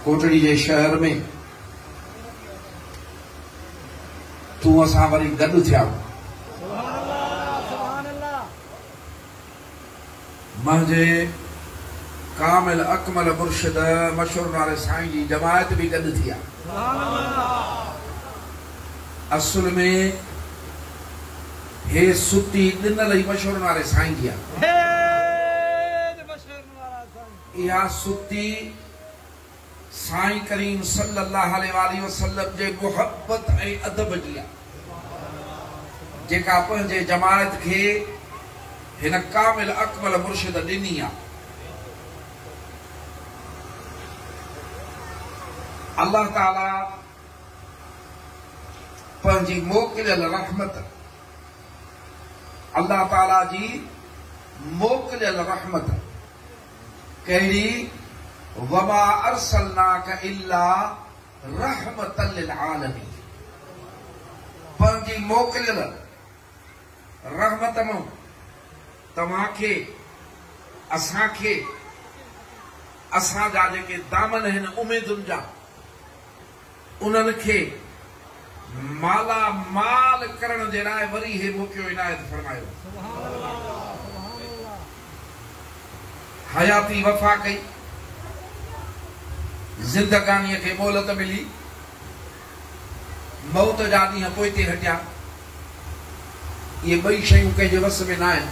ڪوٽڙي جي شهر ۾ تون اسان وري گڏ ٿيا منهنجي ڪامل اڪمل مرشد مشهور نالي سائين جي جماعت به گڏ ٿي اصل ۾ هي ستي ڏنل ئي مشهور نالي سائين جي آ. اها ستي سائين ڪريم صلّي اللّٰه عليه واٰله وسلّم جي محبّت ۽ ادب جي آهي، جيڪا پنهنجي جماعت کي هن ڪامل اڪمل مرشد ڏني آهي. الله تعالٰي پنهنجي موڪليل رحمت الله تعالٰي جي موڪليل رحمت. ڪهڙي؟ وما ارسلناک الا رحمة للعالمين پنهنجي موڪليل رحمت مان توهان کي، اسان کي، اسان جا جيڪي دامن آهن اميدن جا، انهن کي مالا مال ڪرڻ جي لاء وري هي موقعو عنايت فرمايو. حياتي وفا ڪئي، زندگانيء کي مهلت ملي، موت جا ڏينهن پوئتي هٽيا، اهي ٻئي شيون ڪنهن جي وس ۾ ناهن،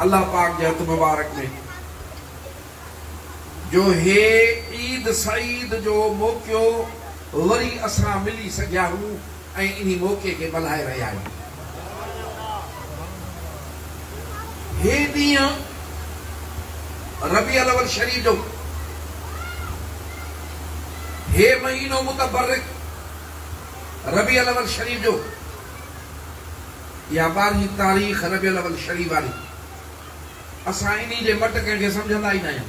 الله پاڪ جي هٿ مبارڪ ۾. جو هي عيد سعيد جو موقعو وري اسان ملي سگهيائون ۽ انهي موقعي کي ملهائي رهيا آهيون. هي ڏينهن ربيع الاول شريف جو هي مهينو متبرڪ ربيع الاول شريف جو اها ٻارهين تاريخ ربيع الاول شريف واري اسان انهي جي مٽ ڪنهن کي سمجهندا ئي ناهيون.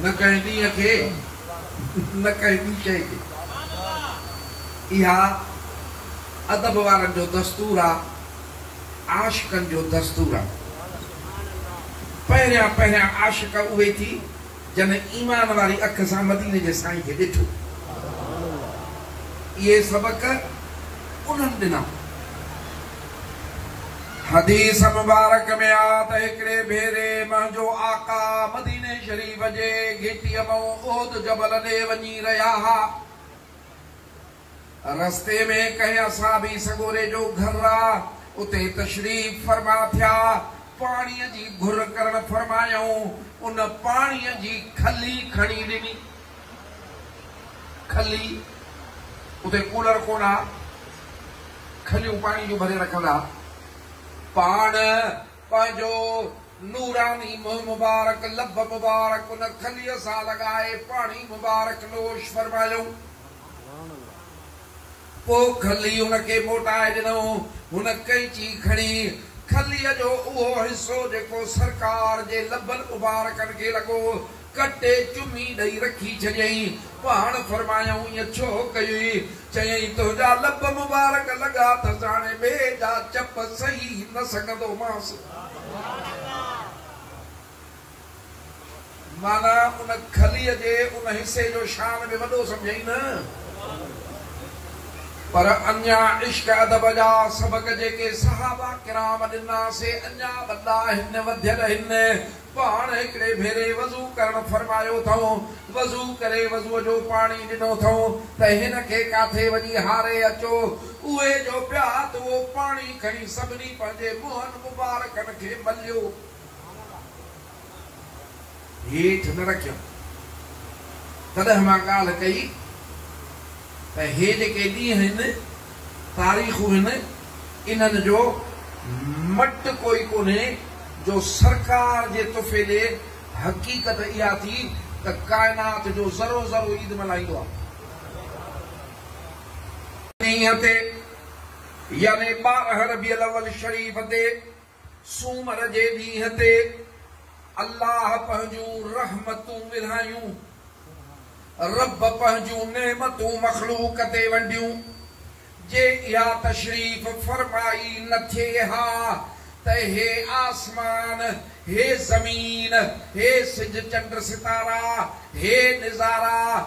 نه ڪنهن ڏينهن کي نه ڪنهن ٻي شيء کي. اها ادب وارن جو دستور آ، عاشقن جو دستور آ. پهريان پهريان عاشق اهي ٿي جن ايمان واري اک سان مديني جي سائين کي ڏٺو. اهي سبق انهن ڏنا. حديث مبارڪ ۾ آ ته هڪڙي ڀيري منهنجو آقا مديني شريف جي گهٽيء مئون احد جبل ڏي وڃي رهيا ها. رستي ۾ ڪنهن اصحابي سڳوري جو گهر آ، اتي تشريف فرما ٿيا، پاڻيء جي گهر ڪرڻ فرمايائون، ان پاڻيء جي کلي کڻي ڏني. کلي، اتي ڪولر ڪونه ها، کليون پاڻي جون ڀري رکندا ها. پاڻ پنهنجو نوراني منهن مبارڪ، لب مبارڪ ان کليء سان لڳائي پاڻي مبارڪ نوش فرمايو. پوء کلي هن کي موٽائي ڏنو. هن قيچي کڻي کليء جو اهو حصو جيڪو سرڪار جي لبن مبارڪن کي لڳو، ڪٽي چمي ڏئي رکي ڇڏيائين. پاڻ فرمايائون ائين ڇو ڪيئي؟ چيائين، تنهنجا لب مبارڪ لڳا اٿس، هاڻي ٻئي جا چپ سهي نه سگهندومانس. معنيٰ ان کليء جي ان حصي جو شان به وڏو سمجهيئي نه. پر اڃا عشق ادب جا سبق جيڪي صحابه ڪرام ڏنا سي اڃا وڏا هن وڌيل هن پاڻ هڪڙي ڀيري وضو ڪرڻ فرمايو ٿئون وضو ڪري وضوء جو پاڻي ڏنو ٿئون ته هن کي ڪاٿي وڃي هاري اچو اهي جو پيا ته اهو پاڻي کڻي سڀني پنهنجي منهن مبارڪن کي مليو هيٺ نه رکيم. تڏهن مان ڳالهه ڪئي ته هي جيڪي ڏينهن هن، تاريخون هن، انهن جو مٽ ڪوئي ڪونهي جو سرڪار جي تحفي ڏي، حقيقت اها ٿي ته ڪائنات جو ذرو ذرو عيد ملهائيندو آهي. ڏينهن تي يعني ٻارهن ربيع الاول شريف تي سومر جي ڏينهن تي الله پنهنجون رحمتون ورهايون، رب پنهنجون نعمتون مخلوق تي ونڊيون، جي اها تشريف فرمائي نه ٿئي ها ته هي آسمان، هي زمين، هي سج چنڊ ستارا، هي نظارا،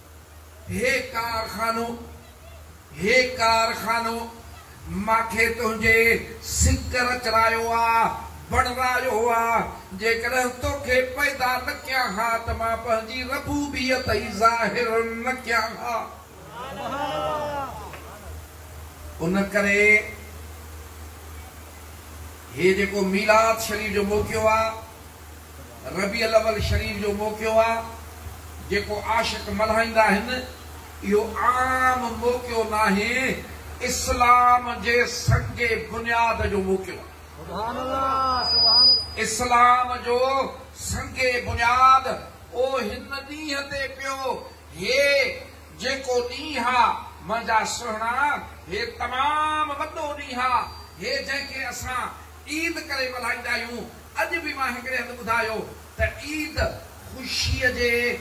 هي ڪارخانو، هي ڪارخانو، ماکي تنهنجي سڪر چرايو آ، بڻرايو آ، جيڪڏهن توکي پيدا نه ڪيان ها ته مان پنهنجي ربوبيت ئي ظاهر نه ڪيان ها. ان ڪري هي جيڪو ميلاد شريف جو موقعو آ. ربيع الاول شريف جو موقعو آ جيڪو عاشق ملهائيندا آهن اهو عام موقعو ناهي اسلام جي سنگ بنياد جو موقعو آ اسلام جو سنگ بنياد او هن ڏينهن تي پيو هي جيڪو ڏينهن آ منهنجا سهڻا هي تمام وڏو ڏينهن آ هي جنهن کي اسان عيد ڪري ملهائيندا آهيون. اڄ به مان هڪڙي هنڌ ٻڌايو ته عيد خوشيء جي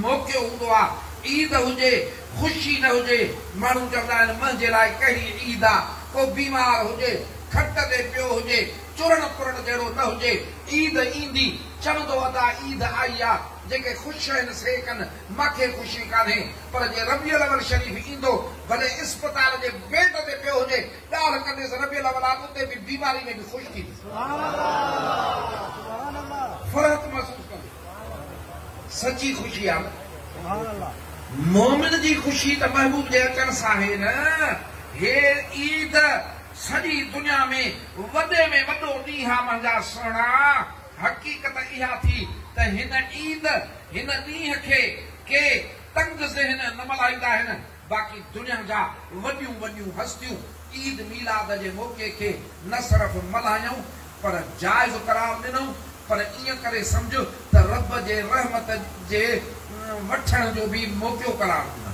موقعو هوندو آ. عيد هجي خوشي نه هجي ماڻهو چوندا آهن منهنجي لاء ڪهڙي عيد آ. ڪو بيمار هجي، کٽ تي پيو هجي، چرڻ پرڻ جهڙو نه هجي، عيد ايندي چوندو ادا عيد آئي آ. جيڪي خوش آهن سي ڪن، مان کي خوشي ڪانهي. پر جي ربيع الاول شريف ايندو ڀلي اسپتال جي بيڊ تي پيو هجي، ڳالهه ڪنديس ربيع الاول آت اتي به بيماري ۾ به خوش ٿينديس فرحت محسوس ڪنديس سچي خوشي آ نه مومن جي خوشي ته محبوب جي اچڻ سان آهي نه هي عيد سڄي دنيا ۾ وڏي ۾ وڏو ڏينهن آ منهنجا سهڻا حقيقت اها ٿي ته هن عيد هن ڏينهن کي ڪي تنگ ذهن نه ملهائيندا آهن باقي دنيا جا وڏيون وڏيون هستيون عيد ميلاد جي موقعي کي نه صرف ملهايائون پر جائز قرار ڏنائون پر ائين ڪري سمجهه ته رب جي رحمت جي وٺڻ جو به موقعو قرار ڏنائون.